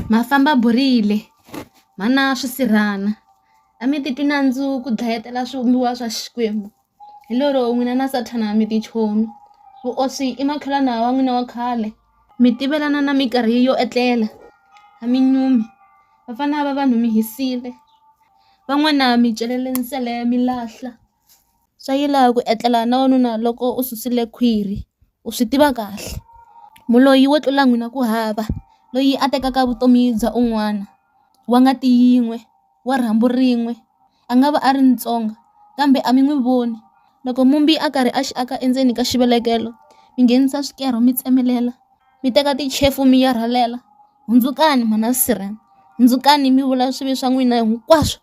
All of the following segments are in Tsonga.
Ma famba burile ma na swisirhana a mi ti twi nandzu ku dlayetela swivumbiwa swa Xikwembu hi lero n'wina na sathana mi ti chomi vuoswi i makhelwani wa n'wina wa khale mi tivelana na minkarhi yo etlela a mi nyumi vafana va vanhu mi hisile van'wana mi celele nsele mi lahla. swa yila ku etlela na wanuna loko u susile khwiri u swi tiva kahle muloyi wo tlula n'wina ku hava loyi a tekaka vutomi bya un'wana wa ngati yin'we wa rhambu rin'we a nga va a ri Mutsonga kambe a mi n'wi voni loko mumbi a karhi a xi aka endzeni ka xivelekelo mi nghenisa swikero mi tsemelela mi teka tichefu mi ya rhwalela hundzukani mhana sirheni hundzukani mi vula swivi swa n'wina hinkwaswo.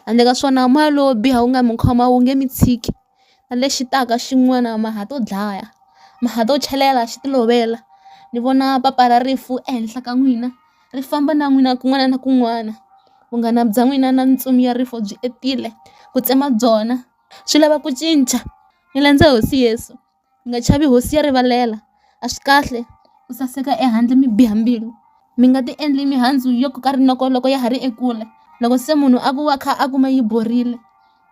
handle ka swona moya lowo biha wu nga mi khoma wu nge mi tshiki na lexi taka xin'wana ma ha to dlaya ma ha to chelela xi ti lovela ni vona papa ra rifu ehenhla ka n'wina ri famba na n'wina kun'wana na kun'wana vunghana bya n'wina na ntsumi ya rifu byi endzile ku tsema byona swi lava ku cinca ni landza hosi Yesu. mi nga chavi hosi ya rivalela a swi kahle ku saseka ehandle mi biha mbilu mi nga ti endli mihandzu yo koka rinoko loko ya ha ri ekule loko se munhu a ku wa kha a kuma yi borile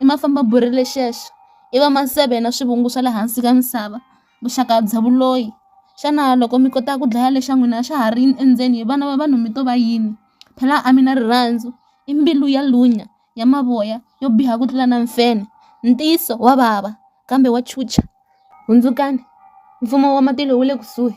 i ma famba borile xexo i va maseve na swivungu swa le hansi ka misava vuxaka bya vuloyi xana loko mi kota ku dlaya lexa n'wina xa ha ri endzeni vana va vanhu mi to va yini phela a mi na rirhandzu i mbilu ya lunya. ya mavoya yo biha ku tlula na mfenhe. Ntiyiso wa vava kambe wa chuchisa. Hundzukani, Mfumo wa matilo wu le kusuhi!